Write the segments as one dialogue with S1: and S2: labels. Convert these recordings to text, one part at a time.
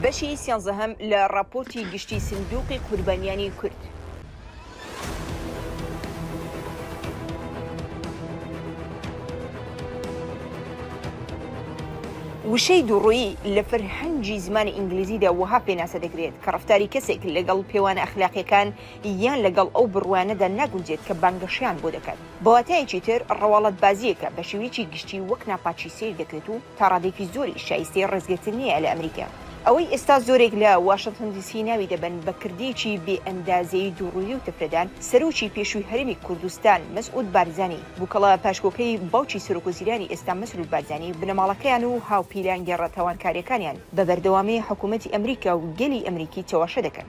S1: بەشی سیانزەهەم لە ڕاپۆرتی گشتی سندوقی قوربانیانی کورد. وشەی دووڕوویی لە فەرهەنگی زمانی ئینگلیزیدا وەها پێناسە دەکرێت کە ڕفتاری کەسێک لەگەڵ پێوانە ئەخلاقیەکان یان لەگەڵ ئەو بڕوانەدا ناگونجێت کە بانگەشەیان بۆ دەکات بەواتایەکی تر ڕەواڵەتبازیەکە بە شێوەیەکی گشتی وەک ناپاکی سەیر دەکرێت و تا ڕادەیەکی زۆریش شایستەی ڕێزگرتن نییە لە ئەمریکا. ئەوەی ئێستا زۆرێک لە واشنتن دی سی ناوی دەبەن بە کردەیەکی بێ ئەندازەی دووڕووی و تفرەدان، سەرۆکی پێشووی هەرێمی کوردستان مەسعود بارزانی، بوکەڵە پاشکۆکەی باوکی سەرۆکوەزیرانی ئێستا مەسرور بارزانی، بنەماڵەکەیان و هاوپیلانگێڕە تاوانکاریەکانیان بە بەردەوامی حکومەتی ئەمریکا و گەلی ئەمریکی چەواشە دەکەن.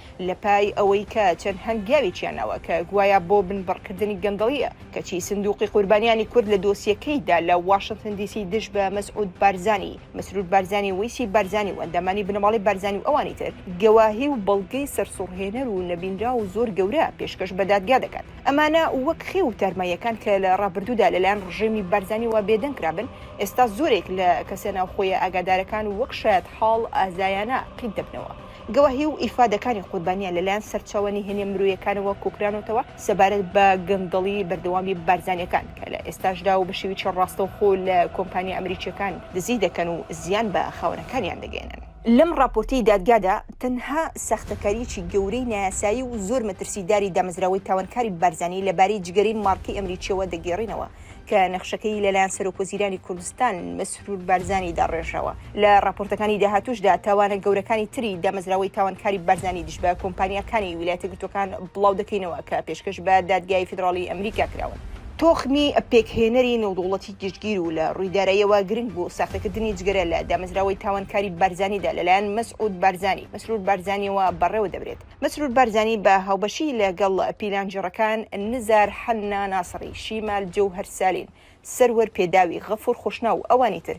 S1: لەپای ئەوەی کە چەند هەنگاوێکیان ناوە کە گوایە بۆ بنبڕکردنی گەندەڵییە، کەچی سندوقی قوربانیانی کورد لە دۆسیەکەیدا لە واشنتن دی سی دژ بە مەسعود بارزانی، مسرور بارزانی، وەیسی بارزانی و ئەندامانی بنەماڵەی بارزانی و ئەوانی تر، گەواهی و بەڵگەی سەرسوڕهێنەر و نەبینراو و زۆر گەورە پێشکەش بە دادگا دەکات. ئەمانە وەک خێو و تارماییەکان کە لە ڕابردوودا لەلایەن ڕژێمی بارزانییەوە بێدەنگ کرابن، ئێستا زۆرێک لە کەسە ناوخۆیە ئاگادارەکان وەک شایەتحاڵ ئازایانە قیت دەبنەوە. گەواهی و ئیفادەکانی قوربانیان لەلایەن سەرچاوە نهێنیە مرۆیەکانەوە کۆکرانەتەوە سەبارەت بە گەندەڵی بەردەوامی بارزانیەکان کە لە ئێستاشدا و بە شێویکی ڕاستەوخۆ لە کۆمپانیا ئەمریکیەکان دزی دەکەن و زیان بە خاوەنەکانیان دەگەیەنن. لەم ڕاپۆرتەی دادگادا تەنها ساختەکاریەکی گەورەی نایاسایی و زۆر مەترسیداری دامەزراوەی تاوانکاری بارزانی لەبارەی جگەرەی مارکەی ئەمریکیەوە دەگێڕینەوە کە نەخشەکەی لەلایەن سەرۆک وەزیرانی کوردستان مەسرور بارزانی داڕێژراوە لە ڕاپۆرتەکانی داهاتووشدا تاوانە گەورەکانی تری دامەزراوەی تاوانکاری بارزانی دژ بە کۆمپانیاکانی ویلایەتە گرتووەکان بڵاو دەکەینەوە کە پێشکەش بە دادگای فیدراڵی ئەمریکا کراون. تۆخمی پێکهێنەری نێودەوڵەتی گشتگیر و لە ڕووی داراییەوە گرنگ بوو، ساختەکردنی جگەرە لە دامەزراوەی تاوانکاری بارزانیدا لەلایەن مەسعود بارزانی، مەسرور بارزانیەوە بەڕێوە دەبرێت. مەسرور بارزانی بە هاوبەشی لە گەڵ پیلانگێڕەکان نزار حەنا ناسڕی، شیمال جەوهەر سالین، سەروەر پێداوی، غەفور خوشناو و ئەوانی تر،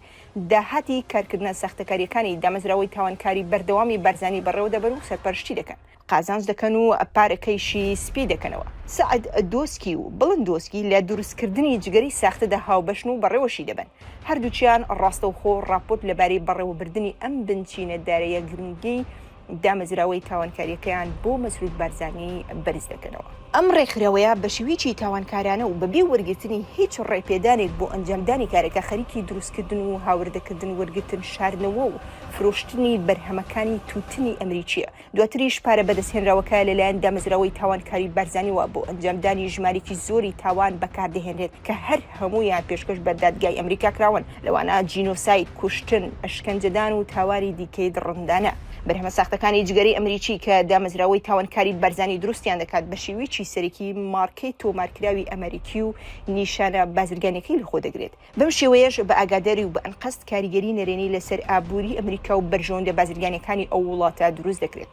S1: داهاتی کارکردنە ساختەکارییەکانی دامەزراوەی تاوانکاری بەردەوامی بارزانی بەڕێوە دەبەن و سەرپەرشتی دەکەن. قازانج دەکەن و پارەکەیشی سپی دەکەنەوە. سەعد دۆسکی و بڵند دۆسکی لە دروستکردنی جگەری ساختەدا هاوبەشن و بەڕێوەشی دەبەن. هەردووکیان ڕاستەوخۆ ڕاپۆرت لەبارەی بەڕێوەبردنی ئەم بنچینە دارەیە گرنگەی دامەزراوەی تاوانکارییەکەیان بۆ مەسرور بارزانی بەرز دەکەنەوە. ئەم ڕێکخراوەیە بە شێوەیەکی تاوانکارانە و بەبێ وەرگرتنی هیچ ڕێپێدانێک بۆ ئەنجامدانی کارەکە خەریکی دروستکردن و هاوردەکردن، وەرگرتن، شاردنەوە و فرۆشتنی بەرهەمەکانی تووتنی ئەمریکییە، دواتریش پارە بەدەستهێنراوەکە لەلایەن دامەزراوەی تاوانکاری بارزانییەوە بۆ ئەنجامدانی ژمارەیەکی زۆری تاوان بەکاردەهێنرێت کە هەر هەموویان پێشکەش بە دادگای ئەمریکا کراون. لەوانە جینۆساید، کوشتن، ئەشکەنجەدان و تاواری دیکەی دڕندانە. بەرهەمە ساختەکانی جگەرەی ئەمریکی کە دامەزراوەی تاوانکاری بارزانی دروستیان دەکات بە شێوەیەکی سەرەکی مارکەی تۆمارکراوی ئەمەریکی و نیشانە بازرگانیەکەی لەخۆ دەگرێت بەم شێوەیەش بە ئاگاداری و بە ئەنقەست کاریگەری نەرێنی لەسەر ئابووری ئەمریکا و بەرژەوەندە بازرگانیەکانی ئەو وڵاتە دروست دەکرێت.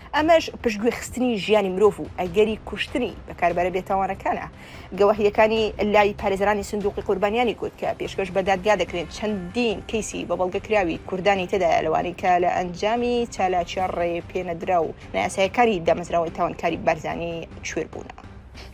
S1: ئەمەش پشتگوێ خستنی ژیانی مرۆڤ و ئەگەری کوشتنی بەکاربەرە بێتاوانەکانە. گەواهییەکانی لای پارێزەرانی سندوقی قوربانیانی کورد کە پێشکەش بە دادگا دەکرێن چەندین کەیسی بە بەڵگە کراوی کوردانی تێدایە لەوانەی کە لە ئەنجامی چالاکییە ڕێپێنەدراو و نایاسایەکانی دامەزراوەی تاوانکاری بارزانی کوێر بوونە.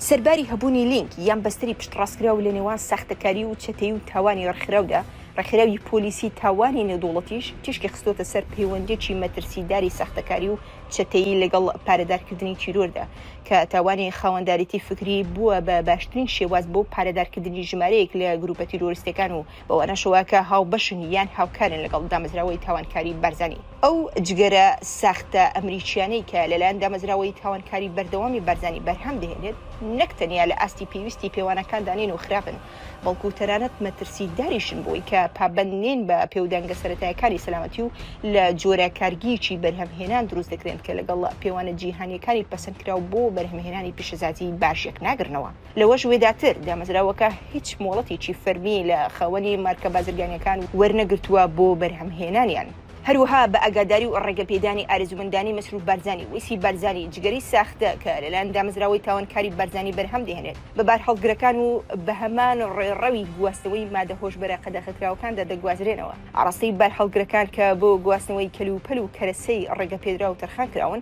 S1: سەرباری هەبوونی لینک یان بەستەری پشتڕاستکراو لە نێوان ساختەکاری و چەتەیی و تاوانی ڕێکخراودا، ڕێکخراوی پۆلیسی تاوانی نێودوڵەتیش تیشکی خستووەتە سەر پەیوەندییەکی مەترسیداری ساختەکاری و چەتەیی لەگەڵ پارەدارکردنی تیرۆردا، کە تاوانی خاوەندارێتی فکری بووە بە باشترین شێواز بۆ پارەدارکردنی ژمارەیەک لە گرووپە تیرۆریستییەکان و بەوانەش وا کە هاوبەشن یان هاوکارن لەگەڵ دامەزراوەی تاوانکاری بارزانی. ئەو جگەرە ساختە ئەمریکییانەی کە لەلایەن دامەزراوەی تاوانکاری بەردەوامی بارزانی بەرهەم دەهێنێت، نەک تەنیا لە ئاستی پێویستی پێوانەکاندا نین و خراپن، بەڵکو تەنانەت مەترسیداریشن بۆی کە پابەند نین بە پێودانگە سەرەتایەکانی سەلامەتی و لە جۆرە کارگییەکی بەرهەمهێنان دروست دەکرێن کە لەگەڵ پێوانە جیهانییەکانی پەسەندکراو بۆ بەرهەمهێنانی پیشەسازی باش یەکناگرنەوە. لەوەش وێداتر، دامەزراوەکە هیچ مۆڵەتێکی فەرمی لە خاوەنی مارکە بازرگانییەکان وەرنەگرتووە بۆ بەرهەمهێنانیان. هەروەها بە ئاگاداری و ڕێگەپێدانی ئارەزوومەندانی مەسروور بارزانی، وەیسی بارزانی، جگەرەی ساختە کە لەلایەن دامەزراوەی تاوانکاری بارزانی بەرهەم دەهێنێت بە بارهەڵگرەکان و بە هەمان ڕێڕەوی گواستنەوەی مادە هۆشبەرە قەدەغەکراوەکاندا دەگوازرێنەوە ئاڕاستەی بارهەڵگرەکان کە بۆ گواستنەوەی کەلوپەل و کەرەسەی ڕێگەپێدراو تەرخان کراون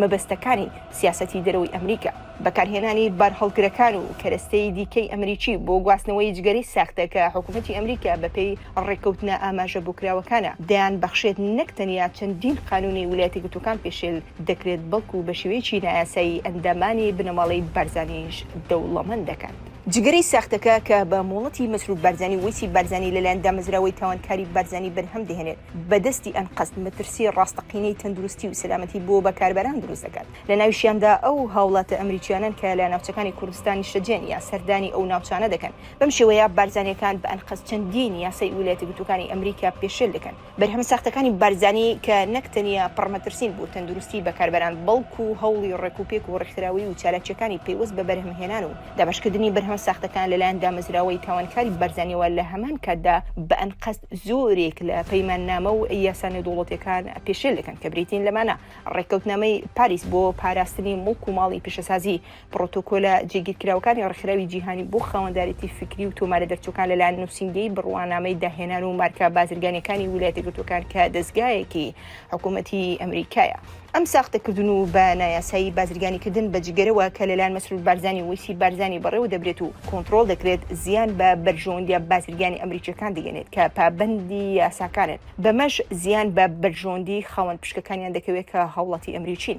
S1: مەبەستەکانی سیاسەتی دەرەوەی ئەمریکا، بەکارهێنانی بارهەڵگرەکان و کەرەستەی دیکەی ئەمریکی بۆ گواستنەوەی جگەرەی ساختە کە حکومەتی ئەمریکا بەپێی ڕێککەوتنە ئاماژە بۆکراوەکانە دەیان بەخشێت نەک تەنیا چەندین قانونی ولایەتە گرتووکان پێشێل دەکرێت بەڵکو بەشێوەیەکی نایاسایی ئەندامانی بنەماڵەی بارزانیش دەوڵەمەند دەکات. جگەرەی ساختەکە کە بە مۆڵەتی مەسرور بارزانی وەیسی بارزانی لەلایەن دامەزراوەی تاوانکاری بارزانی بەرهەم دەهێنێت بە دەستی ئەنقەست مەترسی ڕاستەقینەی تەندروستی و سەلامەتی بۆ بەکاربەران دروست دەکات لە ناویشیاندا ئەو هاوڵاتە ئەمریکیانەن کە لە ناوچەکانی کوردستان نیشتەجێن یا سەردانی ئەو ناوچانە دەکەن بەم شێوەیە بارزانیەکان بە ئەنقەست چەندین یاسای ولایەتە گرتوەکانی ئەمریکا پێشێل دەکەن. بەرهەمە ساختەکانی بارزانی کە نەک تەنیا پڕ مەترسین بۆ تەندروستی بەکاربەران، بەڵکو هەوڵی ڕێکوپێک و ڕێکخراوەیی و چالاکییەکانی پەیوەست بە بەرهەمهێنان و دابەشکردنی بەرهەمە ساختەکان لەلایەن دامەزراوەی تاوانکاری بارزانیەوە لە هەمان کاتدا بە ئەنقەست زۆرێک لە پەیماننامە و یاسا نێودەوڵەتیەکان پێشێل دەکەن کە بریتین لەمانە ڕێککەوتنامەی پاریس بۆ پاراستنی مڵک و ماڵی پیشەسازی پڕۆتۆکۆلە جێگیرکراوەکانی ڕێکخراوی جیهانی بۆ خاوەندارێتی فیکری و تۆمارە دەرچووەکان لەلایەن نووسینگەی بڕوانامەی داهێنان و مارکە بازرگانیەکانی ویلایەتە یەکگرتووەکان کە دەزگایەکی حکوومەتی ئەمریکایە ئەم ساختەکردن و بە نایاسایی بازرگانیکردن بە جگەرەوە کە لەلایەن مەسرور بارزانی و وەیسی بارزانی بەڕێوە دەبرێت و کۆنتڕۆڵ دەکرێت زیان بە بەرژەوەندیە بازرگانی ئەمریکیەکان دەگەنێت کە پابەندی یاساکانن بەمەش زیان بە بەرژەوەندی خاوەن پشکەکانیان دەکەوێت کە هاوڵاتی ئەمریکین.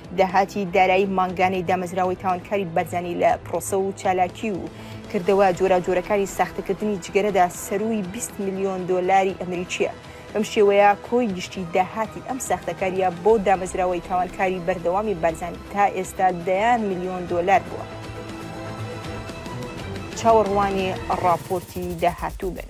S1: داهاتی دارایی مانگانەی دامەزراوەی تاوانکاری بەرزانی لە پرۆسە و چالاکی و کردەوە جۆراوجۆرەکانی ساختەکردنی جگەرەدا سەرووی بیست ملیۆن دۆلاری ئەمریکییە، بەم شێوەیە کۆی گشتی داهاتی ئەم ساختەکارییە بۆ دامەزراوەی تاوانکاری بەردەوامی بارزانی تا ئێستا دەیان ملیۆن دۆلار بووە. چاوەڕوانی ڕاپۆرتی داهاتوو بن.